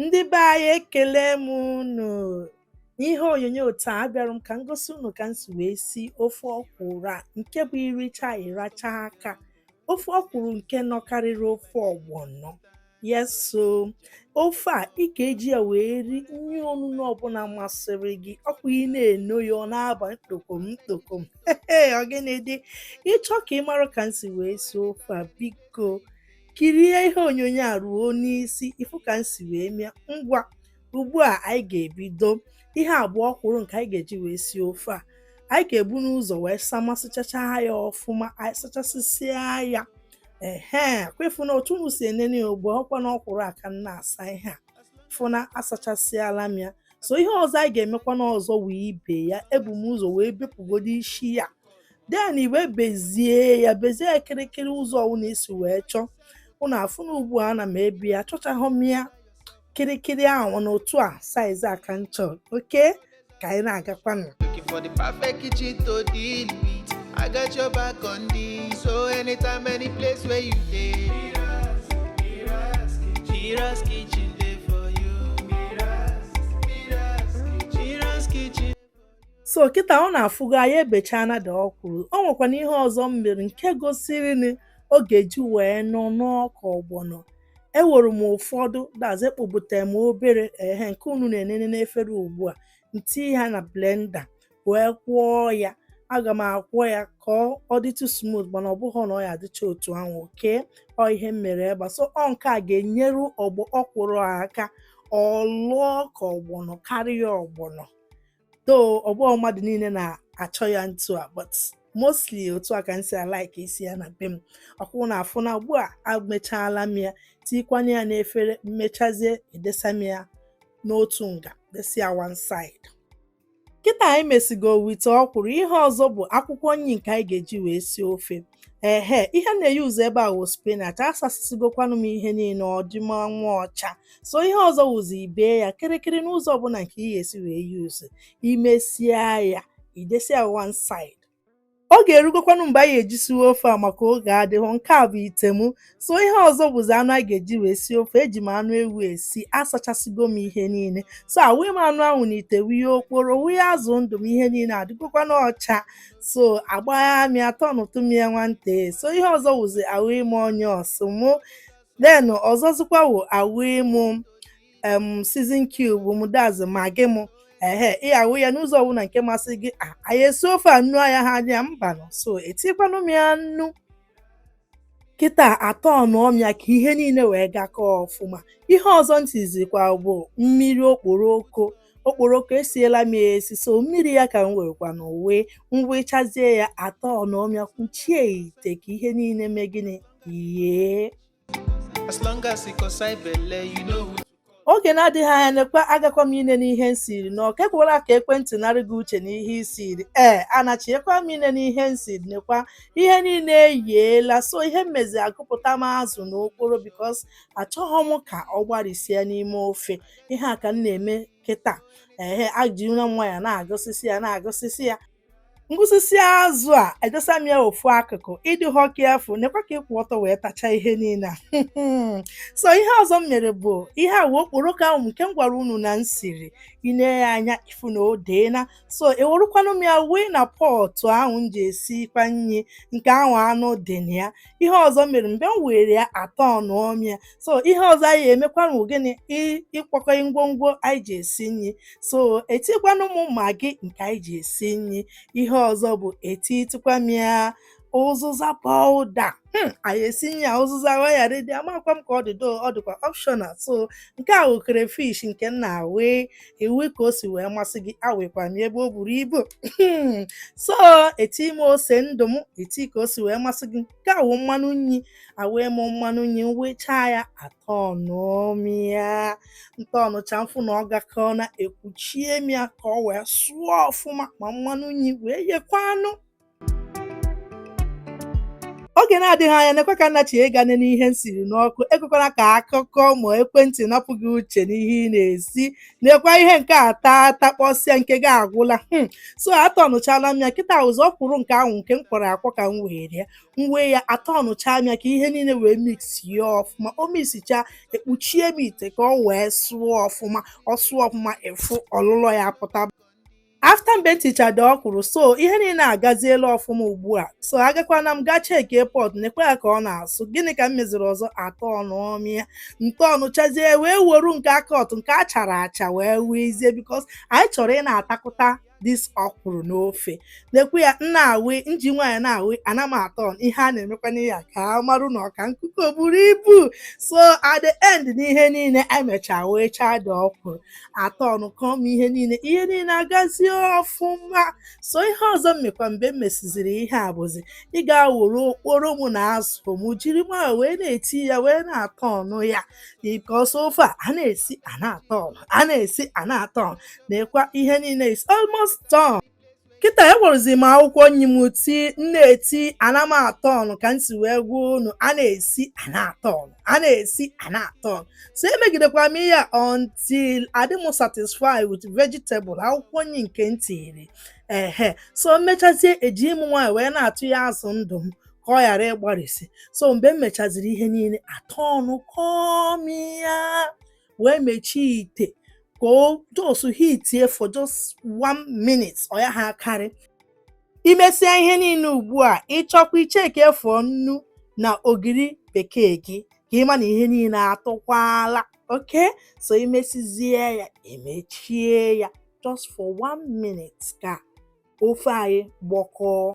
Ndị be anyị ekele m unu n'ihe onyonyo taa abịara m ka m gosi unu ka m si wee si ofe ọkwụrụ nke bụ iricha ịracha aka ofe ọkwụrụ nke nọkarịrị ofe ọgbọnọ yes so ofe a ị ga-eji ya wee ri nri onuno ọbụla masịrị gị ọkwa ị na-eno ya ọ na-aba ntokom ntokom ọ gịnị dị ị chọọ ka ị mara ka m si wee si ofe a biko Kirie ihe onyonyo a ruo n'isi ifu ka m si wee me ya ngwa ugbu a anyị ga-ebido ihe a bụ ọkwụrụ nke anyị ga-eji wee sie ofe a anyị ga-ebu n'ụzọ wee samasịchacha ya ọfụma anyị sachasịsịa ya ehe kwa ị fụ na otu unu si enene ya ugbu a ọkwa na ọkwụrụ a ka m na-asa ị ya-afụ na asachasịala m ya so ihe ọzọ anyị ga-emekwanụ ọzọ wụ ibe ya ebu m ụzọ wee bepụgodo isi ya then i wee bezie ya bezie ya kịrịkịrị ụzọ ọwụna i si wee chọọ unu afụ na ugbu a ana m ebe ya achọchahọ m ya kịrịkịrị ahụ na otu a size a ka m chọrọ okay ka anyị na-agakwanụ Looking for the perfect kitchen to deal with. I got your back on this. So anytime, any place where you dey. Mira's, Mira's kitchen. Mira's kitchen dey for you. Mira's, Mira's kitchen. Mira's kitchen. so kịta unu afụgo anyị ebechaana the ọkwụrụ o nwekwana ihe ọzọ m mere nke gosiri na ọ ga-eji wee nọ anọ ka ọgbọnọ ewere m ụfọdụ that is ekpobute m obere ehe nke unu na-enene n'efere ugbu a m ti ha na blender wee kwọọ ya aga m akwọ ya ka ọ dịtụ smooth mana ọ bụghị na ọ ya-adịcha otu ahụ okay ọ ihe m mere ebe a so ọ nke a ga-enyere ọgbọ ọkwụrụ aka ọ lọọ ka ọgbọnọ karịa ọgbọnọ though ọ bụhọ mmadụ niile na-achọ ya ntu a but mostly otu a ka m si alike isi ya na be m ọkwa unu afụ na ugbu a amechaala m ya tikwanye ya n'efere m mechazie edesa m ya n'otu nga desi ya one side kịta anyị mesigo with the ọkwụrụ ihe ọzọ bụ akwụkwọ nri nke anyị ga-eji wee sie ofe ehe ihe m na-e-use ebe a wụ spinach asasịsịgokwanụ m ihe niile ọ dị ma nwa ọcha so ihe ọzọ wụzi ibe ya kịrịkịrị n'ụzọ ọbụla nke ị ga-esi wee use i mesịa ya i desi ya one side ọ ga-erugokwanụ mgbe anyị eji siwe ofe a maka oge adịhọ nke a bụ ite m so ihe ọzọ bụzi anụ a ga-eji wee sie ofe eji m anụ ewu esi asachasịgo m ihe niile so awụnye m anụ ahụ n'ite wụnye okporo wụnye azụ ndụ m ihe niile adịgokwanụ ọcha so agbagha m ya tọnụtụ m ya nwantị so ihe ọzọ wụzi awụnye m onions mụ then ọzọzikwa wụ awụnye m em season cube m that is Maggi m ehe ị ya-awụ ya n'ụzọ ọbụla nke masị gị "Ah, anyị esi ofe a nnu anya ha anya mbanụ so etikwanụ m ya nnu kịta atọnụọ m ya ka ihe niile wee gakọọ ọfụma ihe ọzọ m tizikwa bụ mmiri okporoko okporoko esiela m ya esi so mmiri ya ka m werekwanụ wee m wechazie ya atọnụọ m ya kwuchie ite ka ihe niile mee gịnị yee Oge na-adịghị anya nekwa agakwa m inene ihe m siri n'ọkụ ekwela ka ekwentị narị gị uche n'ihe i siri ee anachiekwa m inene ihe m siri nekwa ihe niile eyiela so ihe m mezi agụpụta m azụ na okporo because achọghị m ka ọ gbarịsie n'ime ofe ihe a ka m na-eme kịta ehe ajirila m nwayọ na-agụsịsị ya na-agụsịsị ya m gụsịsịa azụ a edosa m ya ofu akụkụ ị dịhọ careful nekwa ka ị kwụ ọtọ wee tachaa ihe niile a so ihe ọzọ m mere bụ ihe a wee okporoko ahụ nke m gwara unu na m siri i ne ya anya ị fụ na o deena so ewerukwanụ m ya wee na pọtụ ahụ m ji esikwa nri nke ahụ anụ dị na ya ihe ọzọ m mere mgbe m were ya atọnụọ m ya so ihe ọzọ anyị emekwanụ gịnị ịkwakọ ngwongwo anyị ji esi nri so etikwanụ m magi nke anyị ji esi nri ihe ọzọ bụ etitịkwa m ya ụzụza powder Hmm, anyị esi ya ụzụza wee ghara ịdị amakwa m ka ọ dị though ọ dịkwa optional so nke a wụ crayfish nke m na-awe ị wụ ka o si wee masị gị awekwa m ebe o buru ibu so eti m ose ndụ m eti ka o si wee masị gị nke a wụ mmanụ nri awee m mmanụ nri m wechaa ya atọnụọ m ya m tọnụchaa m fụ na ọ gakọọna ekwuchie m ya ka ọ wee sụọ ọfụma ma mmanụ nri wee yekwa anụ oge na-adịghị anya nekwa ka m nachie ga nene ihe m siri n'ọkụ ekwekwala ka akụkọ ma ekwentị napụ gị uche n'ihe ị na-esi nekwa ihe nke a taa takpọsịa nke gị agwụla hmm. so atọnụchala m ya kịta ọ bụzi ọkwụrụ nke ahụ nke m kwọrọ akwọ ka m were ya m wee ya atọnụcha m ya ka ihe niile wee mixie ọfụma o mixichaa ekpuchie m ite ka ọ wee sụọ ọfụma ọ sụọ ọfụma ị fụ ọlụlọ ya pụta after mgbe m tichaa the ọkwụrụ so ihe niile agaziela ọfụma ugbu a so agakwana m gaa chekie pot nekwa ya ka ọ na-asụ gịnị ka m meziri ọzọ atọnụọ m ya m tọnụchazie wee woru nke a cut nke a chara acha wee wezie because anyị chọrọ ị na-atakụta dis ọkwụrụ n'ofe nekwa ya m na-awi m ji nwayọ na-awi ana m atọn ihe a na-emekwana ya ka a marụ na ọka nkuko buru ibu so at the end n'ihe niile emechaa wechaa the ọkwụrụ atọnụkọọ m ihe niile ihe niile agazie ọfụma so ihe ọzọ m mekwa mgbe m mesiziri ihe a bụzi ịga woru okporo m na azụ m jiri nwayọ wee na-eti ya wee na-atọnụ ya because ofe a a na-esi a na-atọn a na-esi a na-atọn nekwa ihe niile is almost done kịta ewerụzi m akwụkwọ nni m ti m na-eti ana m atọnụ ka m si wee gwa unu a na-esi a na-atọnụ a na-esi a na-atọnụ so emegidekwa m ihe a until adị m satisfied with vegetable akwụkwọ nni nke m tiri ehe so m mechazie eji m nwayọọ wee na-atụ ya azụ ndụ m ka ọ ghara ịgbarisi so mgbe m mechaziri ihe niile atọnụkọọ m ya wee mechie ite ka o just hitie for just one minute ọ ya ha akarị i mesịa ihe niile ugbu a ị chọkwa icheke for nnu na ogiri bekee gị ka ị ma na ihe niile atụkwala okay so i mesizie ya emechie ya just for one minute ka ofe anyị gbọkọọ